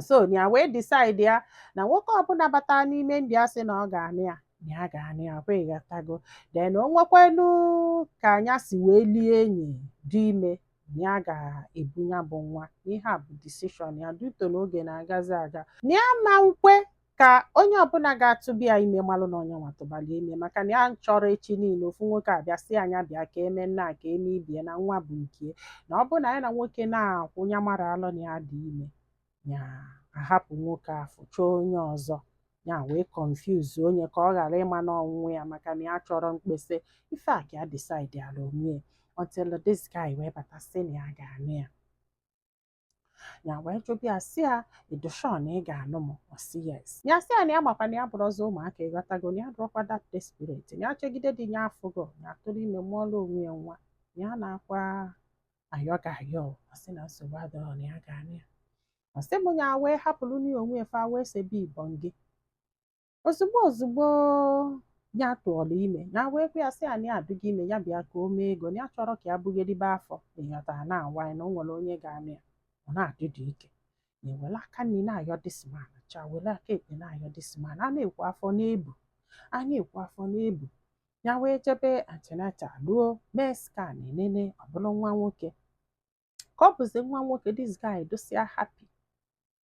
so ya wee decide ya na nwoke ọbụla bata n'ime ndị a sị na ọ ga-anụ ya na ya ga-anụ ya kwa ịghọtago then o nwekwanụ ka nya si wee lie enyi dị ime na ya ga-ebu ya bụ nwa ihe a bụ decision ya due to na oge na-agazi aga na ya ma nkwe ka onye ọbụla ga-atụba ya ime malụ na ọ nya nwa tụbara ya ime maka na ya achọrọ echi niile ofu nwoke abịa sị ya nya bịa ka e mee nnaa ka e mee ibie na nwa bụ nke na ọ bụrụ na ya na nwoke na-akwụ ya mara alụ na ya dị ime ya ahapụ nwoke afụ chọọ onye ọzọ ya wee confuse onye ka ọ ghara ịma na ọ nya nwe ya maka na ya achọrọ mkpesa ife a ka ya decide ala onwe ya until this guy wee bata sị na ya ga-anụ ya ya wee jụba ya sị ya ị dị sure na ị ga-anụ m ọ sị yes ya sị ya na ya makwa na ya abụrọzị ụmụaka ịghọtago na ya adụrọkwa that desperate na ya chegide di ya afụghọ nya atụrụ ime mụọla onwe ya nwa na ya na-akwa ayọ gị ayọ ọ sị na nsogbu adịrọ na ya ga-anụ ya ọ sị m ya wee hapụrụ na onwe ya fa wee sebe ibọn gị ozugbo ozugbo ya tụọla ime ya wee gwa ya sị ya na ya adịgo ime ya bịa ka o mee ego na ya achọrọ ka ya bugharịbe afọ ịghọtara na awa ya na o nwere onye ga-anụ ya ọ na-adị dị ike nya ewere aka nri na-ayọ this man cha were aka ekpe na-ayọ this man a na-ekwu afọ na-ebu a na-ekwu afọ na-ebu ya wee jebe antenatal ruo mee scan e nene ọ bụrụ nwa nwoke ka ọ bụzi nwa nwoke this guy dịsịa happy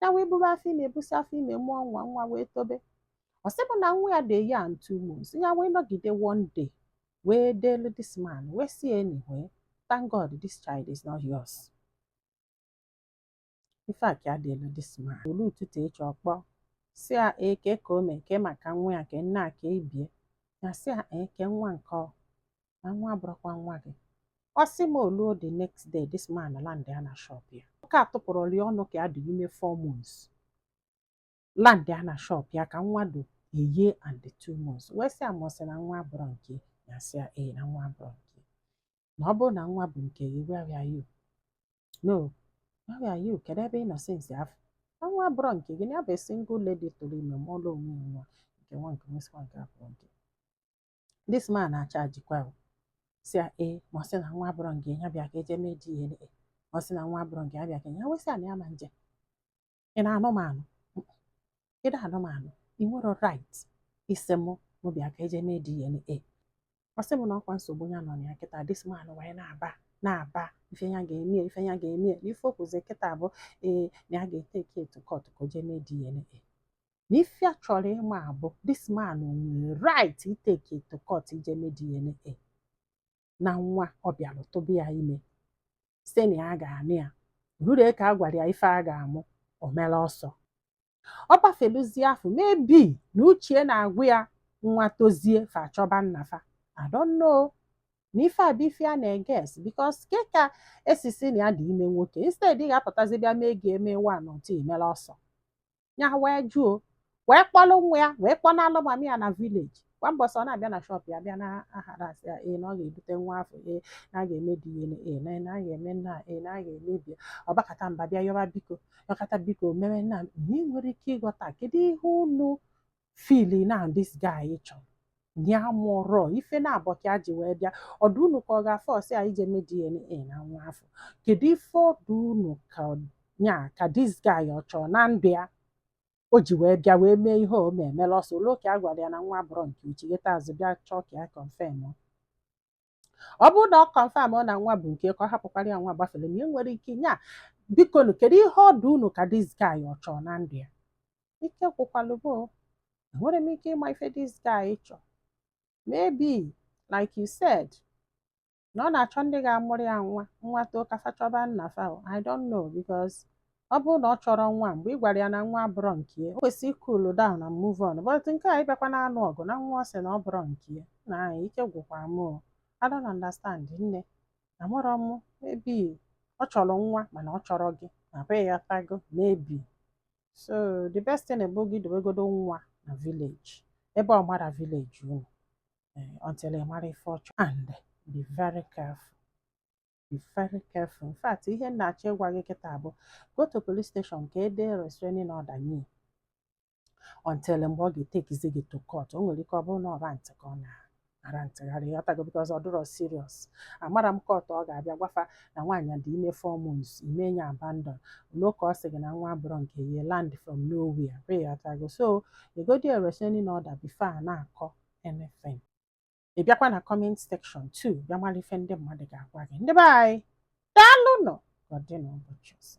ya wee buru afọ ime ebusi afọ ime mụọ nwa nwa wee tobe ọ sị m na nwa ya dị a year and two months ya wee nọgide one day wee delu this man wee sị anyway thank God this child is not yours ife a ka ya delu this man o luo ụtụtụ echi ọ kpọọ sị ya ee kee ka o mee kee maka nwa ya ka nnaa ka ibie ya sị ya ee kee nwa nke ọ na nwa abụrọkwa nwa gị ọ sị m o luo the next day this man land ya na shop ya nwoke a atụpụrọlị ọnụ ka ya dị ime four months land ya na shop ya ka nwa dị a year and two months wee sị ya ma ọ sị na nwa abụrọ nke ya sị ya ee na nwa abụrọ nke na ọ bụrụ na nwa bụ nke gị where were you no where were you kedu ebe ị nọ since afụ na nwa abụrọ nke gị na ya bụ single lady tụrụ ime mụọla onwe ya nwa nke nwa nke nwa sikwa nke abụrọ nke this man achajikwa m sị ya ee ma ọ sị na nwa abụrọ nke ya bịa ka e je mee DNA ọ sị na nwa abụrọ nke ya bịa ka ya wee sị ya na ya ma nje ị na-anụ m anụ ị na-anụ m anụ ị nwere right ịsị mụ mụ bịa ka e je mee DNA ọ sị m na ọkwa nsogbu ya nọ na ya kịta this man wee na-aba na-aba ife ya ga-eme ya, ife ya ga-eme ya. na ife o kwuzi kịta bụ ee na ya ga-etake ya to court ka o jee mee DNA na ife a chọrọ ịma abụ this man nwere right iteke to court ije mee DNA na nwa ọ bịara tụba ya ime sị na ya ga-anụ ya ruru ka a gwara ya ife a ga-amụ o mere ọsọ ọ gbafeluzie afọ maybe na uche na-agwa ya nwa tozie fa achọba nna fa I don't know na ife a bụ ife a na-eguess because kee ka e si sị na ya dị ime nwoke instead ị ga-apụtazi bịa mee ị ga-eme one two i mere ọsọ ya wee jụọ wee kpọlụ nwa ya wee kpọnalụ mummy ya na village kwa mbọsị ọ na-abịa na shop ya bịa na-aharass ya ee na ọ ga-ebute nwa afụ ee na a ga-eme DNA na a ga-eme A ee na a ga-eme B ọ bakata mba bịa yọba biko yọkata biko mere nna m enwerọ ike ịghọta kedu ihe unu feel na this guy chọrọ ya bụrụ ife naabọ ka e ji wee bịa ọ dụ unu ka ọ ga-aforce ya ije mee DNA na nwa afụ kedu ife ọ dụ unu ka ya ka this guy ọ chọrọ na ndụ ya o ji wee bịa wee mee ihe o mee emela ọsọ luo ka a gwara ya na nwa abụrọ nke ya o chighata azụ bịa chọọ ka ya confirmụọ. ọ bụrụ na ọ confirmụọ na nwa bụ nke ya ka ọ hapụkwara ya nwa gbafere m enwerọ ike nya bikonu kedu ihe ọ dụ unu ka this guy ọ chọọ na ndụ ya ike gwụkwalụ m o enwerọ m ike ịma ife this guy chọọ maybe like you said na ọ na-achọ ndị ga-amụrụ ya nwa nwa too ka fa chọba nna fa o, I don't know because ọ bụrụ na ọ chọrọ nwa mgbe ị gwara ya na nwa abụrọ nke ya, o kwesịrị cool down and move on but nke a ịbịakwa na-anụ ọgụ na nwa ọ sị na ọ bụrọ nke ya na anyị ike gwụkwara m o I don't understand nne amarọ m maybe ọ chọrọ nwa mana ọ chọrọ gị na be ya ị ghọtago maybe so the best thing bụ gị dobegodo nwa na village ebe ọ marọ village unu eh, until ị mara ife ọ chọrọ and be very careful be very careful in fact ihe m na-achọ ịgwa gị kịta bụ go to police station ka e dee restraining order nye ya. until mgbe ọ ga-etekizi gị to court o nwere ike ọ bụrụ na ọ rantị ka ọ na-arantịgharị ị ghọtago because ọ dịrọ serious amarọ m court ọ ga-abịa gwa fa na nwaanyị dị ime four months i mee ya abandon ruo ka ọ sị gị na nwa abụrọ nke ya land from nowhere ị ghọtago so degodi restraining order before a na-akọ anything ị bịakwa na comment section too bịa mara ife ndị mmadụ ga-agwa gị ndị be anyị daalụ nụ ka ọ dị n'ụbọchị ọzọ